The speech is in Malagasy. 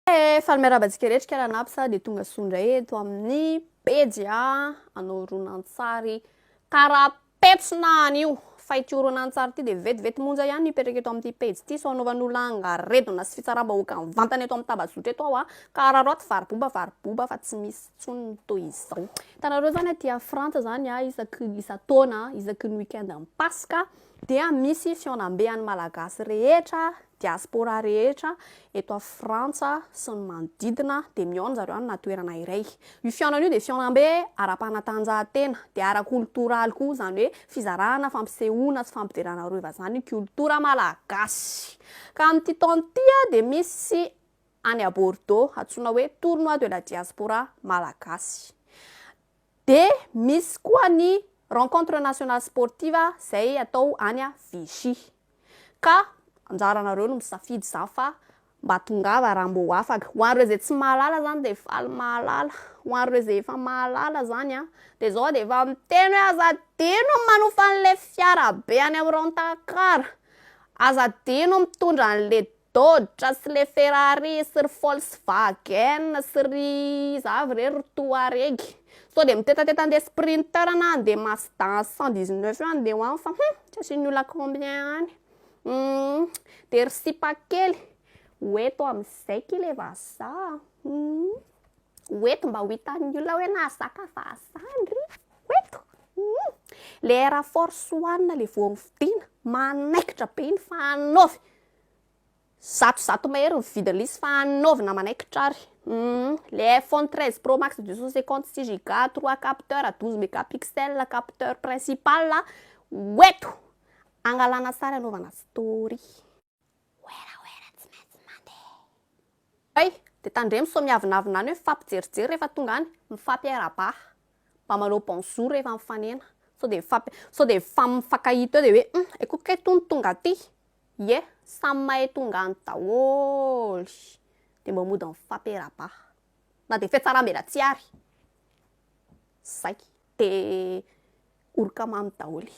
Hey, faly miarahaba antsika rehetra kara napsa dia tonga soa indray eto amin'ny pejy a anao horonantsary kara petsona anio fa ity horonantsary ity dia vetivety monja ihany mipetraka eto amin'ity pejy ity sao anaovan'olona angaredona sy fitsaram-bahoaka mivantana eto amin'ny tambazotra eto aho a ka araraoty variboba variboba fa tsy misy intsony ny toy izao hitanareo izany aty a frantsa izany a isaky isan-taona isaky ny week-end an'ny paska dia misy fihaonambe an'ny Malagasy rehetra, diaspora rehetra eto à Frantsa sy ny manodidina dia mihaona zareo amina toerana iray. Io fihaonana io dia fihaonambe ara-panatanjahantena dia ara-koltoraly koa izany hoe fizarana, fampisehoana sy fampiderana arovana izany koltora Malagasy. Ka amin'ity taona ity dia misy any à Bordeaux antsoina hoe tournoi de la diaspora Malagasy. De misy koa ny rencontre nationale sportive zay atao any à Vichy. Ka anjaranareo no misafidy zany fa mba tongava raha mbô afaka. Ho an'ireo zay tsy mahalala zany de faly mahalala. Ho an'ireo zay efa mahalala zany an, de zao de efa miteny hoe aza adino ny manofa an'le fiara be any am Rent-a-car, aza adino ny mitondra an'le Dodge sy le Ferrari sy ry Volkswagen sy ry iza avy re ry Touareg. Sao dia mitetateta andeha Sprinter na andeha Mazda cent dix neuf eo andeha ho any fa hum tsy asian'ny olona combien any. Humm dia ry sipa kely ho eto amin'izay ki le vazaha a! Humm ho eto mba ho hitan'ny olona hoe nahazaka vazaha ndry a! Ho eto humm. Le Air Force one le vao nividiana manaikitra be iny fa hanaovy. Zato zato mahery ny vidiny lisy fa anaovina manaikitra ary humm le iPhone 13 pro max 256 giga, 3 capteurs, 12 megapixels, capteur principal ho eto hangalana sary hanaovana story. Werawera tsy maintsy mandeha. Hay! Dia tandremo sao miavonavona any hoe mifampijerijery rehefa tonga any, mifampiarabah, mba manao bonjour rehefa mifanena, sao dia mifampi sao dia mifankahita eo dia hoe hum aiku kay tony tonga aty, ie, samy mahay tonga any daholo, dia mba mody mifampiarabah, na dia fiatsarambela tsy ary, zay, dia oroka mamy daholo e.